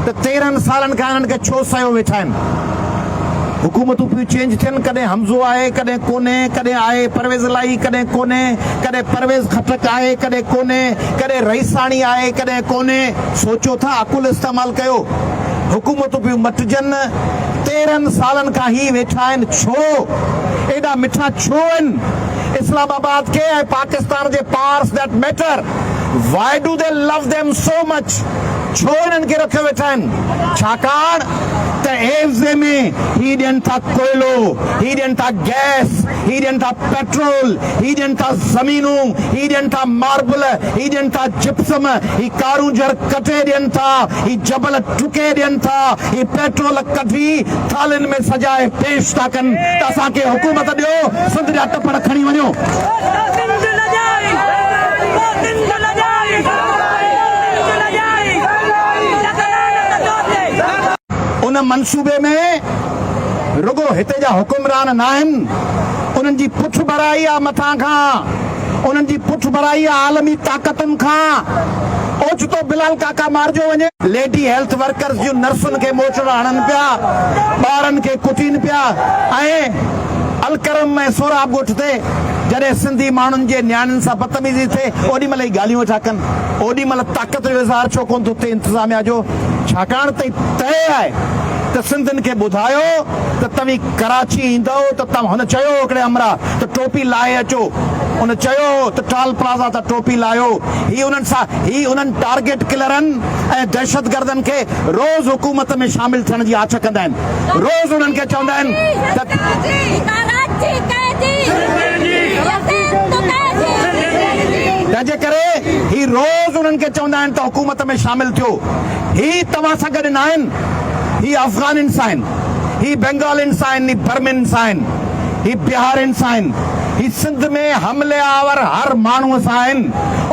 ته تيرهن سالن کان انهن کي ڇو سهيو ويٺا آهن. حڪومتون پيون چينج ٿين ڪڏهن حمزو آهي ڪڏهن ڪونهي ڪڏهن آهي پرويز الاهي ڪڏهن ڪونهي ڪڏهن پرويز خٽڪ آهي ڪڏهن ڪونهي ڪڏهن رئيساڻي آهي ڪڏهن ڪونهي سوچو ٿا عقل استعمال ڪيو حڪومتون پيون مٽجن تيرهن سالن کان هي ويٺا آهن ڇو ايڏا مٺا ڇو ان اسلام آباد کي ۽ پاڪستان جي پارس that matter why do they love them so much. ڇو انهن کي رکيو ويٺا آهن؟ ڇاڪاڻ ته عيوضي ۾ هي ڏين ٿا ڪوئلو، هي ڏين ٿا گئس، هي ڏين ٿا پيٽرول، هي ڏين ٿا زمينون، هي ڏين ٿا ماربل، هي ڏين ٿا جپسم، هي ڪارونجهر ڪٽي ڏين ٿا، هي جبل ٽڪي ڏين ٿا، هي پيٽرول ڪڍي ٿالهين ۾ سجائي پيش ٿا ڪن ته اسان کي حڪومت ڏيو، سنڌ جا ٽپڙ کڻي وڃو. ان منصوبي ۾ رڳو هتي جا حڪمران ناهن، انهن جي پٺڀرائي آهي مٿان کان، انهن جي پٺڀرائي آهي عالمي طاقتن کان. اوچتو بلال ڪاڪا مارجو وڃي. ليڊي هيلٿ ورڪرز جون نرسن کي موچڙا هڻن پيا، ٻارن کي ڪٽين پيا ۽ الڪرم ۽ سهراب ڳوٺ تي جڏهن سنڌي ماڻهن جي نياڻين سان بدتميزي ٿئي اوڏي مهل ئي ڳالهيون ويٺا ڪن اوڏي مهل طاقت جو اظهار ڇو ڪونه ٿو ٿئي انتظاميا جو ڇاڪاڻ ته طئي آهي ته سنڌين کي ٻڌايو ته توهين ڪراچي ايندؤ ته توهان هن چيو هو هڪڙي همراهه ته ٽوپي لائي اچو ان چيو هو ته ٽال پلازا تان ٽوپي لاهيو هي انهن سا هي انهن ٽارگيٽ ڪلرن ۽ دهشتگردن کي روز حڪومت ۾ شامل ٿيڻ جي آڇ ڪندا آهن. روز انهن کي چوندا آهن تنهنجي ڪري هي روز انهن کي چوندا آهن ته حڪومت ۾ شامل ٿيو هي توهان سان گڏ نه آهن هي افغانين سان آهن هي بنگالين سان آهن هي برمين سان آهن هي بهارين سان آهن هي سنڌ ۾ حمله آور هر ماڻهو سان آهن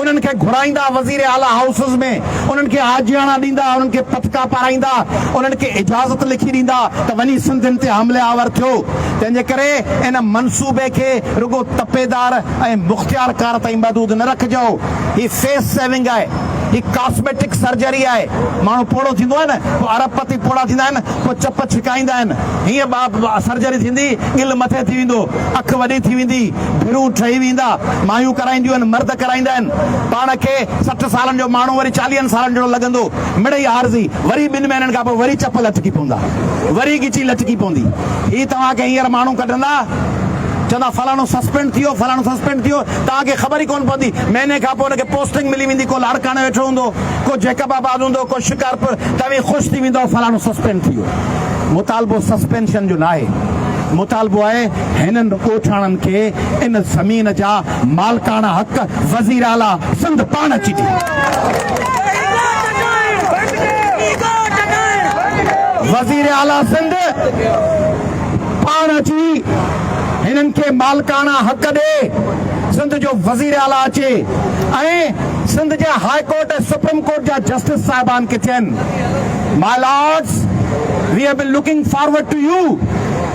انهن کي گهرائيندا وزير اعليٰ هائوسز ۾ انهن کي آجياڻا ڏيندا، انهن کي پتڪا پارائيندا، انهن کي اجازت لکي ڏيندا ته وڃي سنڌين تي حمله آور ٿيو، تنهن جي ڪري ان منصوبي کي رڳو تپيدار ۽ مختيار ڪار تائين محدود نه رکجو، هي فيس سيونگ آهي، هي ڪاسميٽڪ سرجري آهي، ماڻهو پوڙهو ٿيندو آهي نه پوء ارب پتي پوڙها ٿيندا آهن، پوء چپ ڇڪائيندا آهن، هيئن سرجري ٿيندي، ڳل مٿي ٿي ويندو، اک وڏي ٿي ويندي، ڀيرون ٺهي ويندا. مايون ڪرائينديون آهن، مرد ڪرائيندا آهن. پاڻ کي سٺ سالن جو ماڻهو وري چاليهن سالن جهڙو لڳندو. مڙئي عارضي. وري ٻن مهينن کان پوء وري چپ لٽڪي پوندا. وري ڳچي لٽڪي پوندي. هي توهان کي هينئر ماڻهو ڪڍندا. چوندا فلاڻو سسپينڊ ٿيو، فلاڻو سسپينڊ ٿيو. توهان کي خبر ئي ڪونه پوندي. مهيني کان پوء ان کي پوسٽنگ ملي ويندي. ڪو لاڙڪاڻي ويٺو هوندو، ڪو جيڪب آباد هوندو، ڪو شڪارپور. توهين خوش ٿي ويندؤ فلاڻو سسپينڊ ٿي ويو. مطالبو سسپينشن جو ناهي. مطالبو آهي. هنن ڳوٺاڻن کي ان زمين جا مالڪاڻا حق وزير اعليٰ سنڌ پاڻ اچي وزير اعليٰ سنڌ پاڻ اچي هنن کي مالڪاڻا حق ڏي سنڌ جو وزير اعليٰ اچي ۽ سنڌ جي هاء ڪورٽ ۽ سپريم ڪورٽ جا جسٽس صاحبان کي چين my lords we have been looking forward to you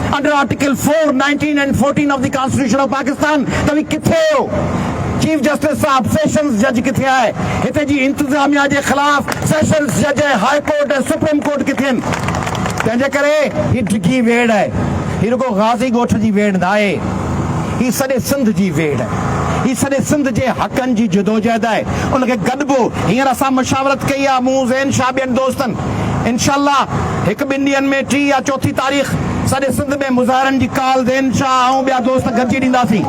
under article four, nineteen and fourteen of the constitution of Pakistan توهين ڪٿي آهيو؟ چيف جسٽس صاحب سيشنز جج ڪٿي آهي؟ هتي جي انتظاميا جي خلاف سيشنز جج ۽ هاء ڪورٽ ۽ سپريم ڪورٽ ڪٿي آهن؟ تنهنجي ڪري هي ڊگهي ويڙهه آهي. هي رڳو غازي ڳوٺ جي ويڙهه ناهي. هي سڄي سنڌ جي ويڙهه آهي. هي سڄي سنڌ جي حقن جي جدوجهد آهي. ان کي گڏبو. هينئر اسان مشاورت ڪئي آهي، مون، زين شاهه ٻين دوستن. انشاء الله هڪ ٻن ڏينهن ۾ ٽي يا چوٿين تاريخ سڄي سنڌ ۾ مظاهرن جي ڪال زين شاهه آئون ٻيا دوست گڏجي ڏينداسين.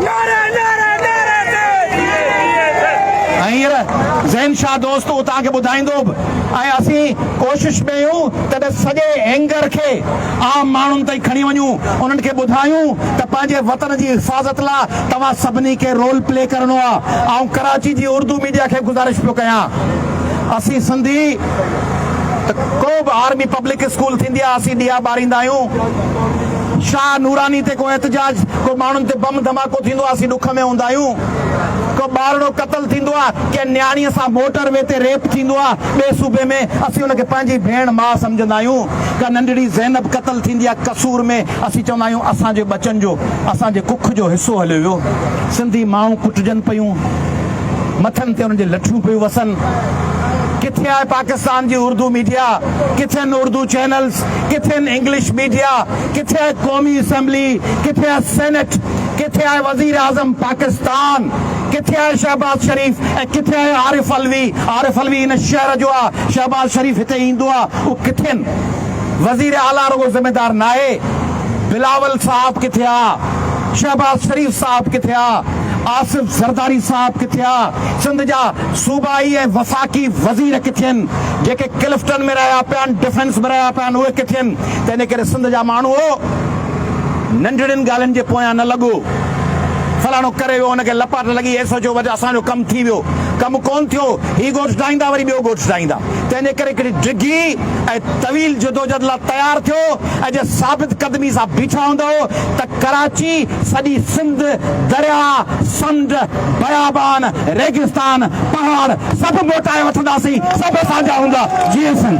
هينئر زين شاهه دوست اوهان کي ٻڌائيندو به ۽ اسين ڪوشش ۾ اهيون ته ته سڄي اينگر کي عام ماڻهن تائين کڻي وڃون انهن کي ٻڌايون ته پنهنجي وطن جي حفاظت لا توهان سڀني کي رول پلي ڪرڻو آهي آئون ڪراچي جي اردو ميڊيا کي گذارش پيو ڪيان اسين سنڌي ته ڪو به آرمي پبلڪ اسڪول ٿيندي آ اسين ڏيئا ٻاريندا آهيون شاهه نوراني تي ڪو احتجاج ڪو ماڻهن تي بم ڌماڪو ٿيندو آ اسين ڏک ۾ هوندا آهيون ڪو ٻارڙو قتل ٿيندو آ ڪنهن نياڻي سان موٽر وي تي ريپ ٿيندو آ ٻي صوبي ۾ اسين ان کي پنهنجي ڀيڻ ماء سمجهندا آهيون ڪا ننڍڙي زينب قتل ٿيندي آ قصور ۾ اسين چوندا آهيون اسان جي ٻچن جو اسان جي ڪک جو حصو هليو ويو سنڌي مائون ڪٽجن پيون. مٿن تي انهن جي لٺيون پيون وسن. ڪٿي آهي پاڪستان جي اردو ميڊيا، ڪٿي آهن اردو چينلز، ڪٿي آهن انگلش ميڊيا، ڪٿي آهي قومي اسيمبلي، ڪٿي آهي سينيٽ، ڪٿي آهي وزيراعظم پاڪستان، ڪٿي آهي شهباز شريف ۽ ڪٿي آهي عارف علوي، عارف علوي هن شهر جو آهي، شهباز شريف هتي ايندو آهي، اهو ڪٿي آهن؟ وزير اعليٰ رڳو ذميدار ناهي، بلاول صاحب ڪٿي آهي، شهباز شريف صاحب ڪٿي آهي؟ آصف زرداري صاحب ڪٿي آ؟ سنڌ جا صوبائي ۽ وفاقي وزير ڪٿي ان؟ جيڪي ڪلفٽن ۾ رهيا پيا آهن، ڊفينس ۾ رهيا پيا آهن اهي ڪٿي ان؟ تنهن ڪري سنڌ جا ماڻهوء ننڍڙين ڳالهين جي پويان نه لڳو. فلاڻو ڪري ويو ان کي لپاٽ لڳي اهي سوچيو وجه اسان جو ڪم ٿي ويو. ڪم ڪون ٿيو. هي ڳوٺ ڊاهيندا وري ٻيو ڳوٺ ڊاهيندا. تنهن ڪري هڪڙي ڊگهي ۽ طويل جدوجھد لا تيار ٿيو ۽ جي ثابت قدمي سان بيٺا هوندؤ ته ڪراچي، سڄي سنڌ، درياء، سمنڊ، بيابان، ريگستان، پهاڙ سڀ موٽائي وٺنداسين، سڀ اسان جا هوندا، جئين سنڌ.